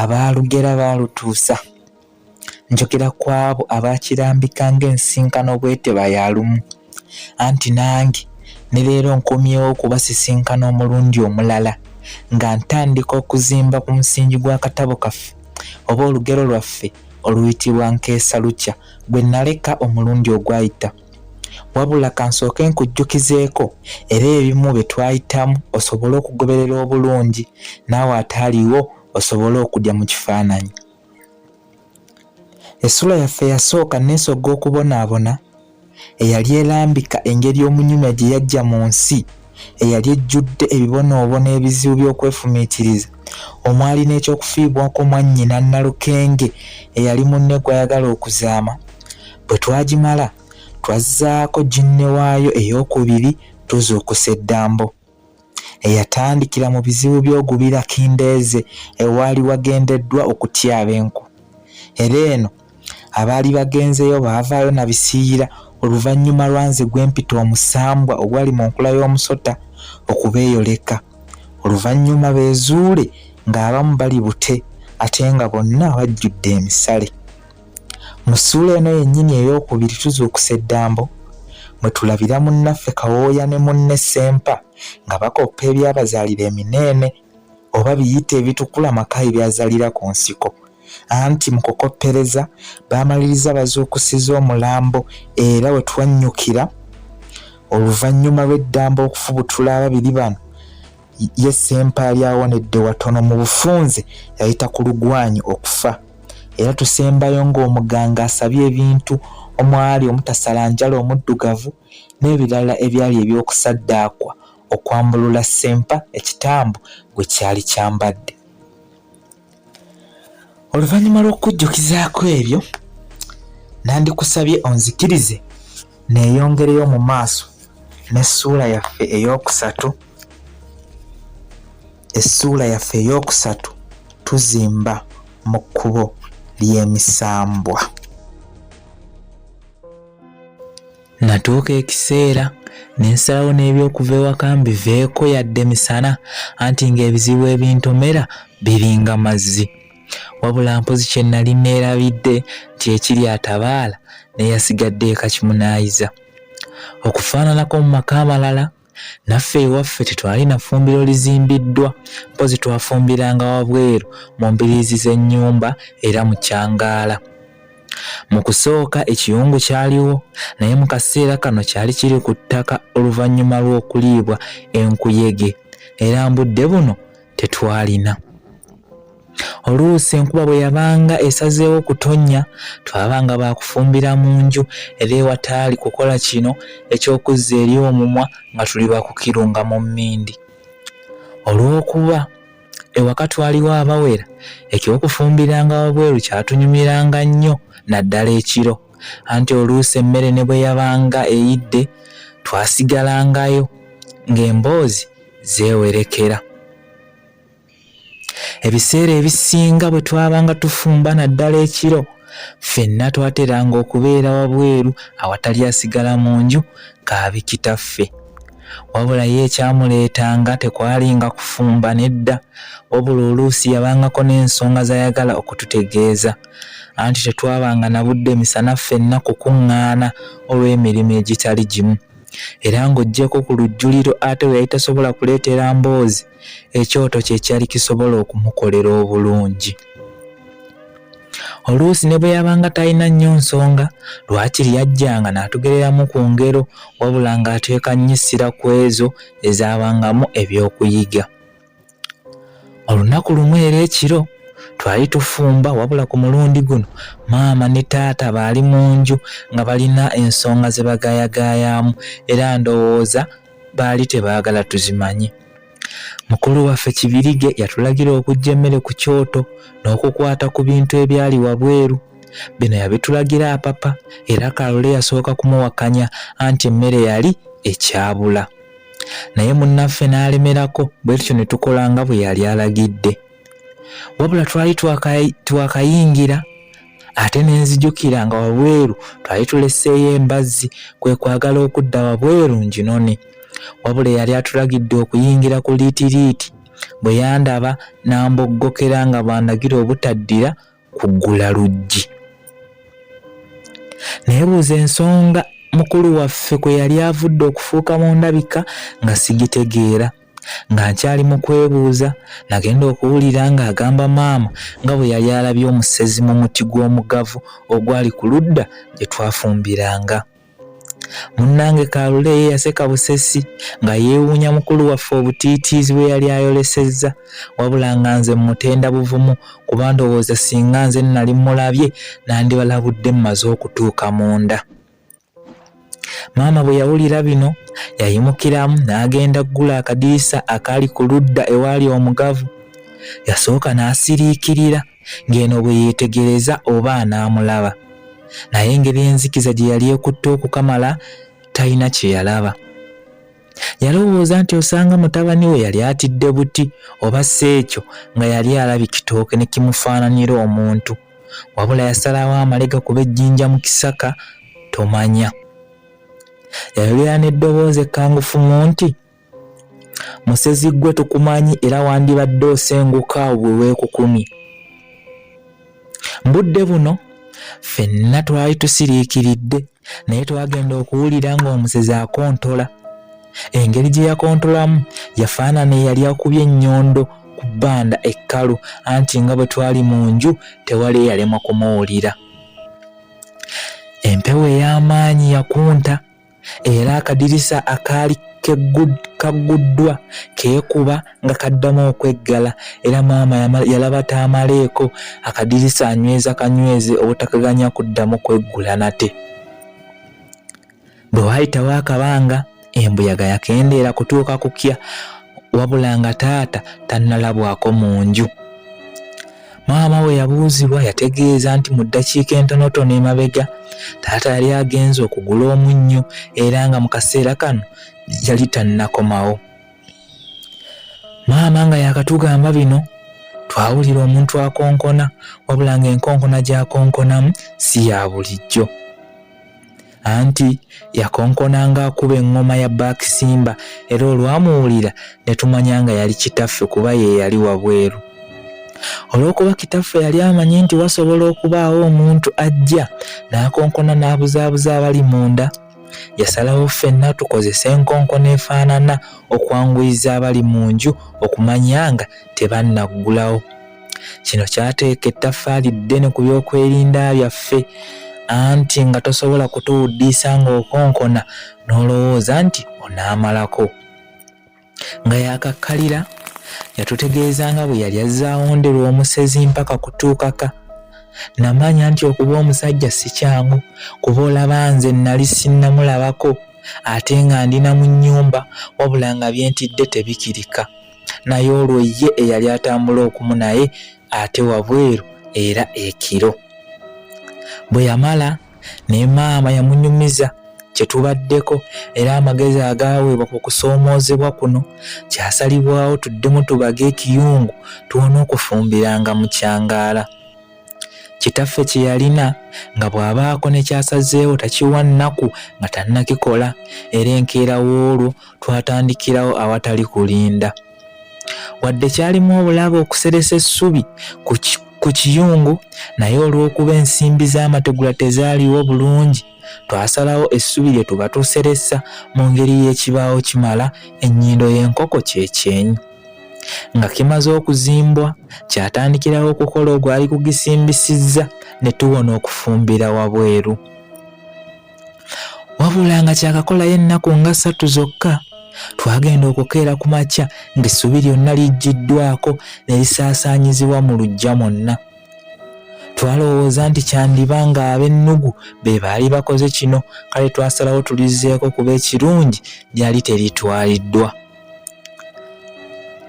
abaalugera baalutuusa njogera ku abo abaakirambika ng'ensinkano bweteba ya lumu anti nange ne leero nkomyewo okubasisinkana omulundi omulala nga ntandika okuzimba ku musingi gw'akatabo kaffe oba olugero lwaffe oluyitibwa nkeesa lukya gwe naleka omulundi ogwayita Wabula kansooke nkujjukizeeko era ebimu bye twayitamu osobole okugoberera obulungi naawe ataaliwo osobole okudya mu kifaananyi. Essula yaffe yasooka neesogga okubonaabona eyali erambika engeri omunyumya gye yajja mu nsi. eyali ejjudde ebibonoobono ebizibu by'okwefumiitiriza omwali n'eky'okufiibwako mwannyina Nalukenge eyali munne gw'ayagala okuzaama. Bwe twagimala, twazzaako ginne waayo ey'okubiri Tuzuukusa Eddambo eyatandikira mu bizibu by'ogubira Kindeeze ewaali wagendeddwa okutyaba enku era eno abaali bagenzeeyo baavaayo na bisiiyira oluvannyuma lwa nze gwe mpita omusambwa ogwali mu nkula y'omusota okubeeyoleka oluvannyuma beezuule ng'abamu bali bute ate nga bonna bajjudde emisale mu ssuula eno yennyini ey'okubiri tuzuukusa eddambo mwe tulabira munnaffe kawooya ne munne sempa nga bakoppa ebyabazaalira emineene oba biyite ebitukula maka ebyazalira ku nsiko anti mu kukoppereza baamaliriza bazuukusiza omulambo era we twannyukira oluvannyuma lw'eddamba okufubutula ababiri bano ye sempaali awonedde watono mu bufunze yayita ku lugwanyi okufa era tusembayo ng'omuganga asabye ebintu omwali omutasalanjala omuddugavu n'ebirala ebyali eby'okusaddaakwa okwambulula sempa ekitambo gwe kyali kyambadde oluvannyuma lw'okukujjukizaako ebyo nandikusabye onzikirize neeyongereyo mu maaso n'essuula yaffe ey'okusatu essuula yaffe ey'okusatu tuzimba mu kkubo ly'emisambwa Natuuka ekiseera ne nsalawo n'eby'okuva ewaka mbiveeko yadde misana anti ng'ebizibu ebintomera biringa mazzi. Wabula mpozi kye nali neerabidde nti ekiri atabaala n'eyasigadde eka kimunaayiza. Okufaananako mu maka amalala naffe ewaffe tetwalina ffumbiro lizimbiddwa mpozi twafumbiranga wabweru mu mbiriizi z'ennyumba era mu kyangaala mu kusooka ekiyungu kyaliwo naye mu kaseera kano kyali kiri ku ttaka oluvannyuma lw'okuliibwa enkuyege era mbudde buno tetwalina. Oluusi enkuba bwe yabanga esazeewo okutonnya, twabanga ba kufumbira mu nju era ewataali kukola kino eky'okuzza eri omumwa nga tuli ba kukirunga mu mmindi. Olw'okuba ewaka twaliwo abawera, eky'okufumbiranga wabweru kyatunyumiranga nnyo naddala ekiro, anti oluusi emmere ne bwe yabanga eyidde, twasigalangayo ng'emboozi zeewerekera. Ebiseera ebisinga bwe twabanga tufumba naddala ekiro, ffenna twateranga okubeera wabweru awatali asigala mu nju kaabi kitaffe. Wabula ye ekyamuleetanga tekwalinga kufumba nedda, wabula oluusi yabangako n'ensonga z'ayagala okututegeeza. Anti tetwabanga na budde misana ffenna kukuŋŋaana olw'emirimu egitali gimu. era ng'oggyeko ku lujjuliro ate we yali tasobola kuleetera mboozi ekyoto kye kyali kisobola okumukolera obulungi oluusi ne bwe yabanga talina nnyo nsonga lwaki lyajjanga n'atugereramu ku ngero wabula ng'ateeka nnyisira ku ezo ezaabangamu eby'okuyiga olunaku lumu era ekiro twali tufumba wabula ku mulundi guno maama ne taata baali mu nju nga balina ensonga ze bagayagayaamu era ndowooza baali tebaagala tuzimanye mukulu waffe kibirige yatulagira okujja emmere ku kyoto n'okukwata ku bintu ebyali wabweru bino yabitulagira apapa era kalole yasooka kumuwakanya anti emmere yali ekyabula naye munnaffe n'alemerako bwe tutyo ne tukola nga bwe yali alagidde wabula twali twakayingira ate ne nzijukira nga wabweru twali tuleseeyo embazzi kwe kwagala okudda wabweru nginone wabula eyali atulagidde okuyingira ku liitiriiti bwe yandaba n'amboggokera nga bw'andagira obutaddira kuggula luggi naye buuza ensonga mukulu waffe kwe yali avudde okufuuka mu ndabika nga sigitegeera nga nkyali mu kwebuuza nagenda okuwulira ng'agamba maama nga bwe yali alabye omusezi mu muti gw'omugavu ogwali ku ludda gye twafumbiranga Munnange Kaalule ye yaseka busesi nga yeewuunya mukulu waffe obutiitiizi bwe yali ayolesezza wabula nga nze mmutenda buvumu kuba ndowooza singa nze nnali mmulabye nandibalabudde mmaze okutuuka munda. Maama bwe yawulira bino yayimukiramu n'agenda kugula akadirisa akaali ku ludda ewaali omugavu. Yasooka n'asiriikirira ng'eno bwe yeetegereza oba anaamulaba naye engeri enzikiza gye yali ekutte okukamala talina kye yalaba yalowooza nti osanga mutabani we yali atidde buti oba si ekyo nga yali alabi kitooke ne kimufaananira omuntu wabula yasalawo amalega kuba ejjinja mu kisaka tomanya yayolera n'eddoboozi ekkangufumu nti Musezi ggwe tukumanyi era wandibadde osenguka bwe weekukumye. Mbudde buno ffenna twali tusiriikiridde naye twagenda okuwulira ng'omusezi akontola. Engeri gye yakontolamu yafaanana eyali akubye ennyondo ku bbanda ekkalu anti nga bwe twali mu nju tewali eyalemwa kumuwulira. Empewo ey'amaanyi yakunta. era akadirisa akaali kagguddwa keekuba nga kaddamu okweggala era maama yalaba taamaleeko akadirisa anyweza kanyweze obutakaganya kuddamu kweggula nate bwe waayitawo akabanga embuyaga yakendeera kutuuka kukya wabula nga taata tannalabwako mu nju Maama we yabuuzibwa yategeeza nti mu ddakiika entonotono emabega taata yali agenze okugula omunnyo era nga mu kaseera kano yali tannakomawo. Maama nga yakatugamba bino twawulira omuntu akonkona wabula ng'enkonkona gy'akonkonamu si ya bulijjo. anti yakonkona ng'akuba eŋŋoma ya Back Simba era olwamuwulira ne tumanya nga yali kitaffe kuba ye yali wabweru. Olw'okuba kitaffe yali amanyi nti wasobola okubaawo omuntu ajja n'akonkona n'abuzaabuza abali munda, yasalawo ffenna tukozese enkonkona efaanana okwanguyiza abali mu nju okumanya nga tebannaggulawo. Kino kyateeka ettaffaali ddene ku byokwerinda byaffe anti nga tosobola kutuwuddiisa ng'okonkona n'olowooza nti onaamalako. Nga yakakkalira yatutegeeza nga bwe yali azze awonderwa omusezi mpaka kutuukaka. Namanya nti okuba omusajja si kyangu kuba olaba nze nnali sinnamulabako ate nga ndi na mu nnyumba wabula nga bye ntidde tebikirika. naye olwo ye eyali atambula okumu naye ate wabweru era ekiro bwe yamala ne maama yamunyumiza kye tubaddeko era amagezi agaaweebwa ku kusoomoozebwa kuno kyasalibwawo tuddemu tubage ekiyungu tuwona okufumbiranga mu kyangaala kitaffe kye yalina nga bw'abaako ne kyasazeewo takiwa nnaku nga tannakikola era enkeera w'olwo twatandikirawo awatali kulinda wadde kyalimu obulabe okuseresa essubi ku kiyungu naye olw'okuba ensimbi z'amategula tezaaliwo bulungi twasalawo essubi lye tuba tuseresa mu ngeri y'ekibaawo kimala ennyindo y'enkoko kyekyenyi nga kimaze okuzimbwa kyatandikirawo okukola ogwali kugisimbisizza ne tuwona okufumbira wabweru wabula nga kyakakolayo ennaku nga ssatu zokka twagenda okukeera ku makya ng'essubi lyonna lijjiddwako ne lisaasaanyizibwa mu luggya mwonna twalowooza nti kyandiba nga ab'ennugu be baali bakoze kino kale twasalawo tulizzeeko kuba ekirungi lyali teritwaliddwa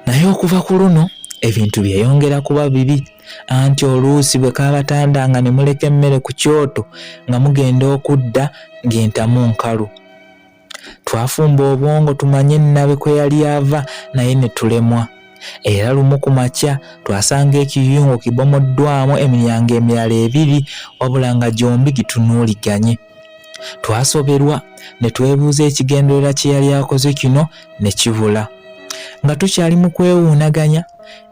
naye okuva ku luno ebintu byeyongera kuba bibi anti oluusi bwe kaabatanda nga ne muleka emmere ku kyoto nga mugenda okudda ng'entamu nkalu twafumba obwongo tumanye nnabe kwe yali ava naye ne tulemwa era lumu ku makya twasanga ekiyungo kibomoddwamu emiryango emirala ebiri wabula nga gyombi gitunuuliganye twasoberwa ne twebuuza ekigenderera kye yali akoze kino ne kibula nga tukyali mu kwewuunaganya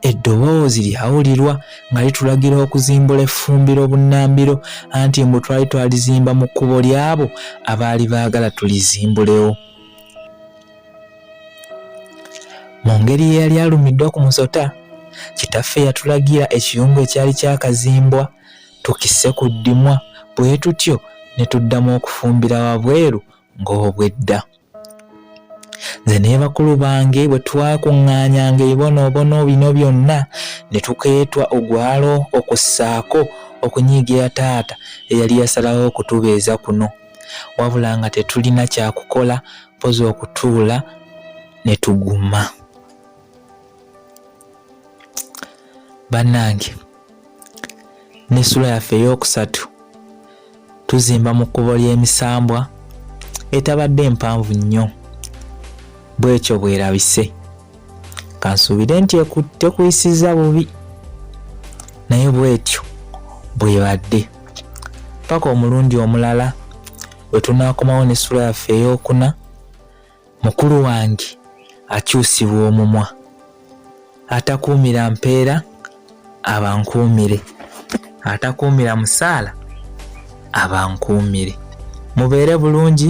eddoboozi lyawulirwa nga litulagira okuzimbula effumbiro obunnambiro anti mbu twali twalizimba mu kkubo ly'abo abaali baagala tulizimbulewo mu ngeri eyali alumiddwa ku musota kitaffe yatulagira ekiyungu ekyali kyakazimbwa tukisse ku ddimwa bwe tutyo ne tuddamu okufumbira wabweru ng'obwedda nze ne bakulu bange bwe twakuŋŋaanyanga ebibonoobono bino byonna ne tukeetwa ogwalo okussaako okunyiigira taata eyali yasalawo okutubeeza kuno wabula nga tetulina kyakukola mpozi okutuula ne tuguma bannange n'essula yaffe ey'okusatu tuzimba mu kkubo ly'emisambwa etabadde mpanvu nnyo bwekyo bwerabise kansuubire nti tekuyisiza bubi naye bwetyo bwebadde paka omulundi omulala wetunakomawo n'essula yaffe ey'okuna mukulu wange akyusibwa omumwa atakuumira mpeera abankuumire atakuumira musaala abankuumire mubeere bulungi